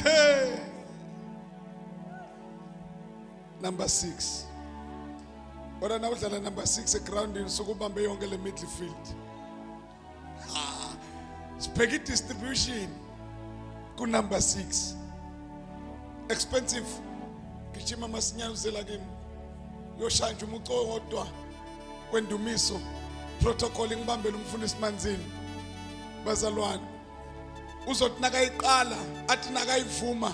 Hey. Number 6. Wena na udlala number 6 egroundini sokubambe yonke le midfield. Ah. Sibheke distribution ku number 6. Expensive. Gijima masinyane uzela kimi. Yoshaya nje umuco wodwa kwendumiso. Protocol ngibambele umfundisi manzini. Bazalwane uzothi nakayiqala athi nakayivuma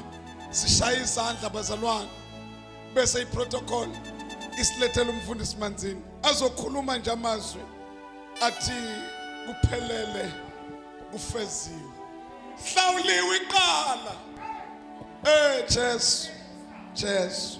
sishaye izandla bazalwane bese iprotocol isilethela umfundisi manzini azokhuluma nje amazwi athi kuphelele kufeziwe hlawuliwe iqala eh Jesu Jesu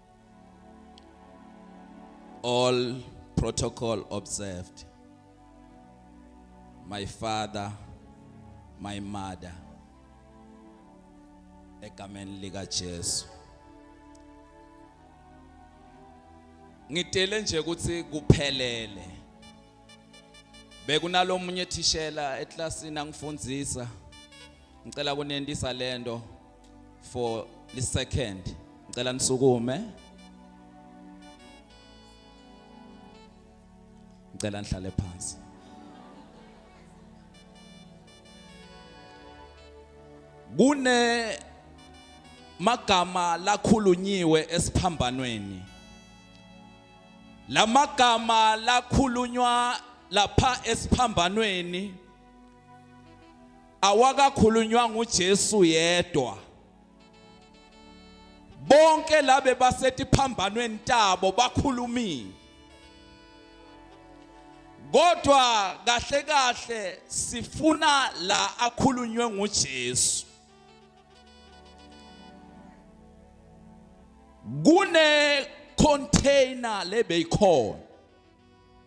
All protocol observed. My father, my mother. Egameni lika Jesu. Ngidele nje ukuthi kuphelele. Bekunalomunye thishela eklasini angifundisa. Ngicela kunendisa lento. for the second ngicela nisukume ngicela nihlale phansi kune magama lakhulunyiwe esiphambanweni lamagama lakhulunywa lapha esiphambanweni awakakhulunywanga uJesu yedwa bonke labe basetiphambanweni tabo bakhulumile kodwa kahle kahle sifuna la akhulunywe nguJesu kune container lebeyikhona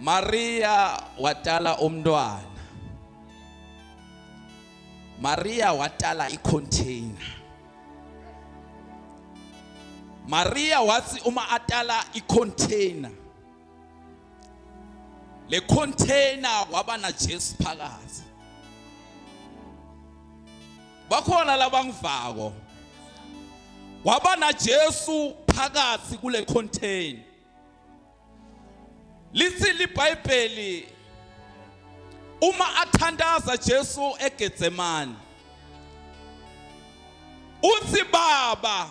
Maria watala umntwana Maria watala icontainer Maria wathi uma atala icontainer le container waba na Jesu phakathi bakhona labangivako waba na Jesu phakathi kule container lithi libhayibheli uma athandaza Jesu eGetsemane uthi baba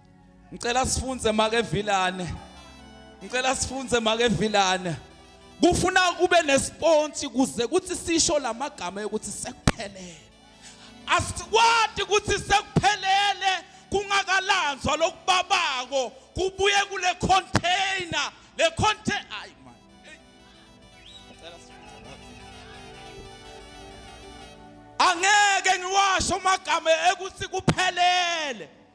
Ngicela sifunze make Vilane. Ngicela sifunze make Vilane. Kufuna kube nesponti kuze kuthi sisho lamagama ukuthi sekuphelele. Asikwati ukuthi sekuphelele kungakalanzwa lokubabako kubuye kule container le container ayi man. Ngicela sifunze. Angeke ngiwasho amagama ekuthi kuphelele.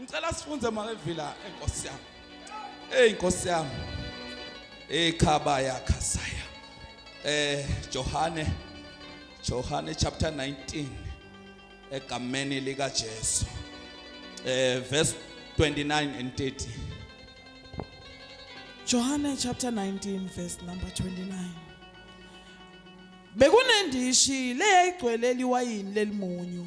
Ngicela sifunze makevila enkosi yami. Hey inkosi yami. Ekhaba yakha saya. Eh Johane Johane chapter 19 egameni lika Jesu. Eh verse 29 and 30. Johane chapter 19 verse number 29. Bekunendishi leyayigcwele liwayini lelimunyu.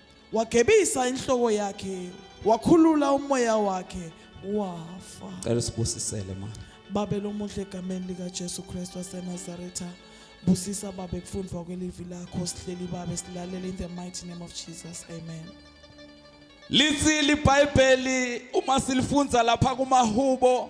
wagebisa inhloko yakhe wakhulula umoya wakhe wafa cela usibusisele ma babe lomuhle egameni likaJesu Kristu waseNazaretha busisa babe kufundwa kwelivi lakho sihleli babe silalele in the mighty name of Jesus amen Lithi libhayibheli uma silifundza lapha kumahubo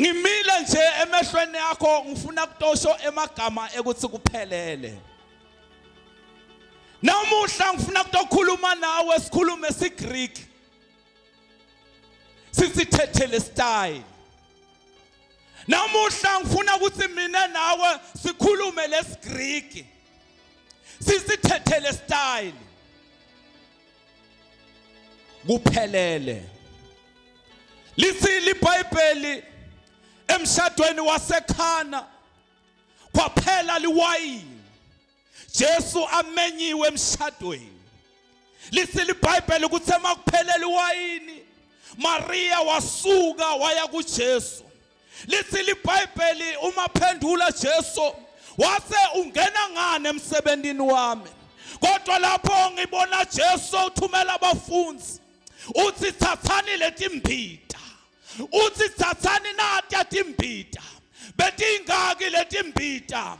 ngimile nje emehlweni yakho ngifuna kutosho emagama ekuthi kuphelele namuhla ngifuna kutokhuluma nawe sikhulume sigreek sisithethele style namuhla ngifuna ukuthi mina nawe sikhulume lesigreek sisithethele style kuphelele lithini iBhayibheli emshadweni wasekhana kwaphela liwayini Jesu amenyiwe emshadweni lithi libhayibheli ukuthi emakuphelele iwayini Maria wasuka waya kuJesu Lithi liBhayibheli uma phendula Jesu wase ungena ngani emsebenzini wami kodwa lapho ngibona Jesu uthumela abafundi uthi thathani letimbita uthi thathani natya timbita betingaki letimbita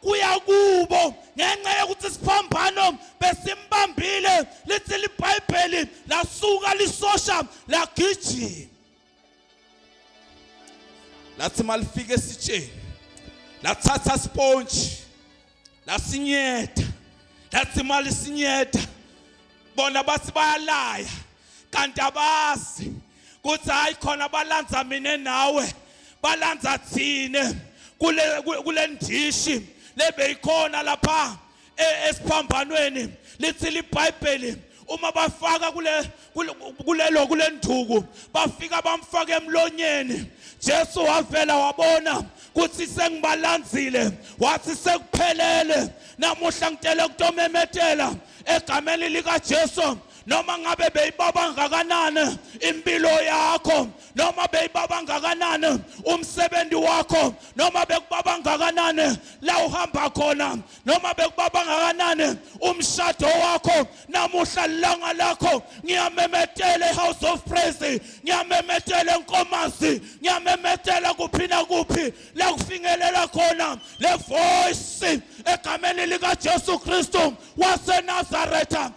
kuya kubo ngenxa yokuthi isiphambano besimbambile lithi libhayibheli lasuka lisosha lagijima lathi malifika esitsheni lathatha sponge lasinyetha lathi malisinyetha bona bathi bayalaya kanti abazi kuthi hayi khona balanza mina nawe balanza thina kule kule ndishi lebeyikhona lapha e, esiphambanweni lithi libhayibheli uma bafaka kule kulelo kule nduku bafika bamfake emlonyeni Jesu wavela wabona kuthi sengibalandzile wathi sekuphelele namuhla ngitele kutomemetela egameni likaJesu noma ngabe beyibaba ngakanani impilo yakho noma beyibaba ngakanani umsebenzi wakho noma bekubaba ngakanani la uhamba khona noma bekubaba ngakanani umshado wakho namuhla langa lakho ngiyamemetela ehouse of praise ngiyamemetela enkomazi ngiyamemetela kuphi na kuphi la kufingelela khona le voice egameni likaJesu Kristu waseNazaretha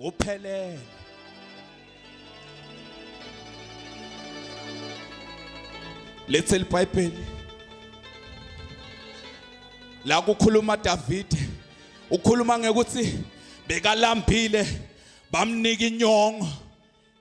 ngophelele lethe libhayibheli la kukhuluma Davide ukhuluma ngekuthi bekalambile bamnika inyongo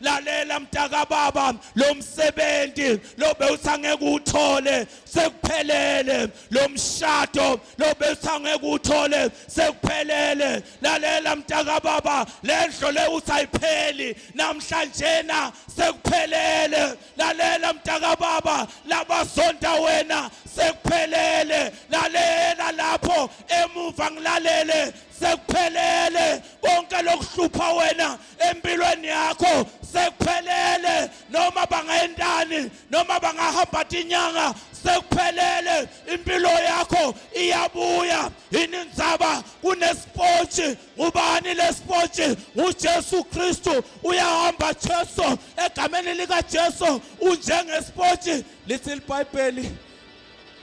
lalela mntakababa lo msebenzi lo bewuthi angeke uthole sekuphelele lo mshado lo bewuthi angeke uthole sekuphelele lalela mntakababa le ndlo le uthi ayipheli namhlanjena sekuphelele lalela mntakababa labazonda wena sekuphelele lalela lapho emuva ngilalele sekuphelele konke lokuhlupha wena empilweni yakho sekuphelele noma bangayentani noma bangahamba tinyanga sekuphelele impilo yakho iyabuya yini ndzaba kunesipotshi ngubani lesipotshi nguJesu Kristu uyahamba Jesu egameni lika Jesu unjengesipotshi lithi iBhayibheli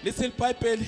lithi iBhayibheli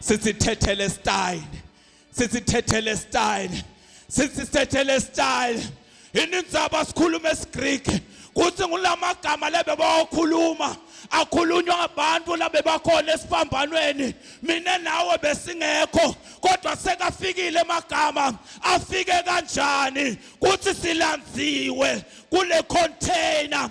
sithi thethele style sithi thethele style sithi thethele style inindzaba sikhuluma isiGreek kuthi ngulamagama lebe bawakhuluma akhulunywa ngabantu labe bakhona esiphambanweni mina nawe besingekho kodwa sekafikile emagama afike kanjani kuthi silandziwe kule container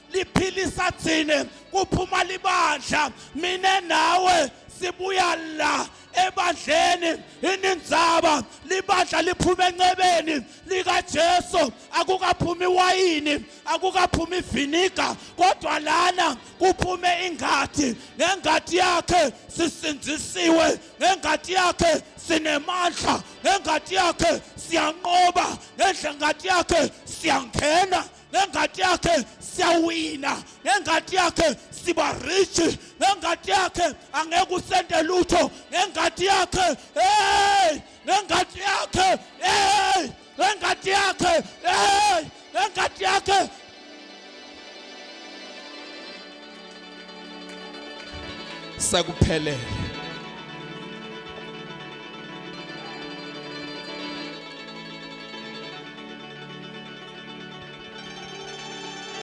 liphilisa thina kuphuma libandla mina nawe sibuya la ebandleni inindzaba libandla liphuma encebeni likaJesu akukaphumi wayini akukaphumi viniga kodwa lana kuphume ingadi ngengadi yakhe sisindzisiwe ngengadi yakhe sinemandla ngengadi yakhe siyanqoba ngengadi yakhe siyangena ngengadi yakhe siyawina ngengadi yakhe siba rich ngengadi yakhe angeke usende lutho ngengadi yakhe hey ngengadi yakhe hey ngengadi yakhe hey ngengadi yakhe sekuphelele